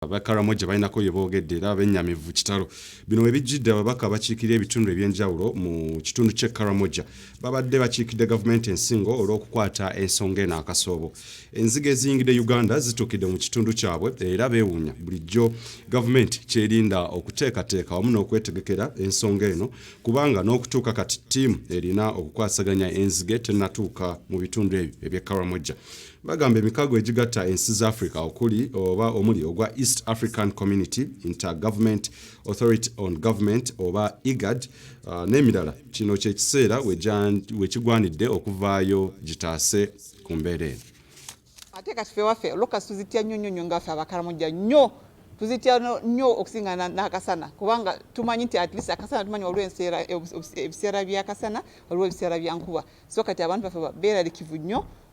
Aba Karamoja balinako bye boogedde era bennyamivu kitalo. Bino we bijjidde ababaka abakiikirira ebitundu eby'enjawulo mu kitundu ky'e Karamoja babadde bakiikidde gavumenti ensingo olw'okukwata ensonga eno akasoobo. Enzige eziyingidde Uganda zituukidde mu kitundu kyabwe era beewuunya bulijjo gavumenti kyerinda okuteekateeka wamu n'okwetegekera ensonga eno kubanga n'okutuuka kati ttiimu erina okukwasaganya enzige tennatuuka mu bitundu ebyo eby'e Karamoja. Bagamba emikago egigatta ensi za Africa okuli oba omuli ogwa East African Community, Intergovernment Authority on Government oba IGAD uh, n'emirala kino ky'ekiseera we kigwanidde okuvaayo gitaase ku mbeera eno. Ate kati fe waffe lokas tuzitya nnyo nnyo nnyo nga ffe abakaramujja nnyo tuzitya nnyo okusinga n'akasana kubanga tumanyi nti atleast akasana tumanyi waliwo enseera ebiseera by'akasana waliwo ebiseera bya nkuba so kati abantu baffe beeralikivu nnyo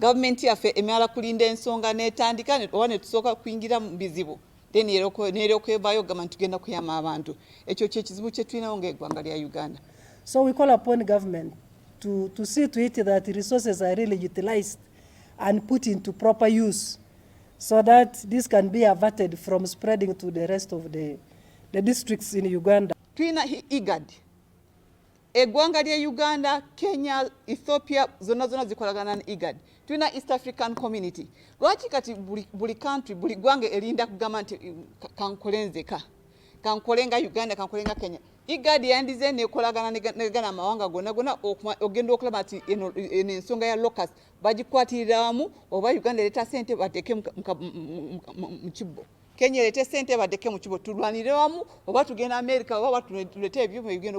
Government yaffe emala kulinda ensonga netandika oba netusooka kuingira mu bizibu then neryokevayo ogamba nti tugenda kuyama abantu ekyo kyekizibu kyetulinawo ngaegwanga lya uganda so we call upon government to, to see to it that resources are really utilized and put into proper use so that this can be averted from spreading to the rest of the, the districts in uganda tulina igad Eggwanga ly'e Uganda, Kenya, Ethiopia zonna zonna zikolagana ne IGAD. Tulina East African Community. Lwaki kati buli, buli country buli ggwanga erinda kugamba nti mm, kankole nzeka kankole nga Uganda kankole nga Kenya. IGAD yandize nekolagana negana amawanga gonna gonna ogenda okulaba nti eno ensonga ya locus bagikwatirira wamu oba Uganda ereeta sente bateeke mu kibbo. Kenya ereete sente bateeke mu kibbo tulwanire wamu oba tugenda Amerika oba tulete ebyuma ebigenda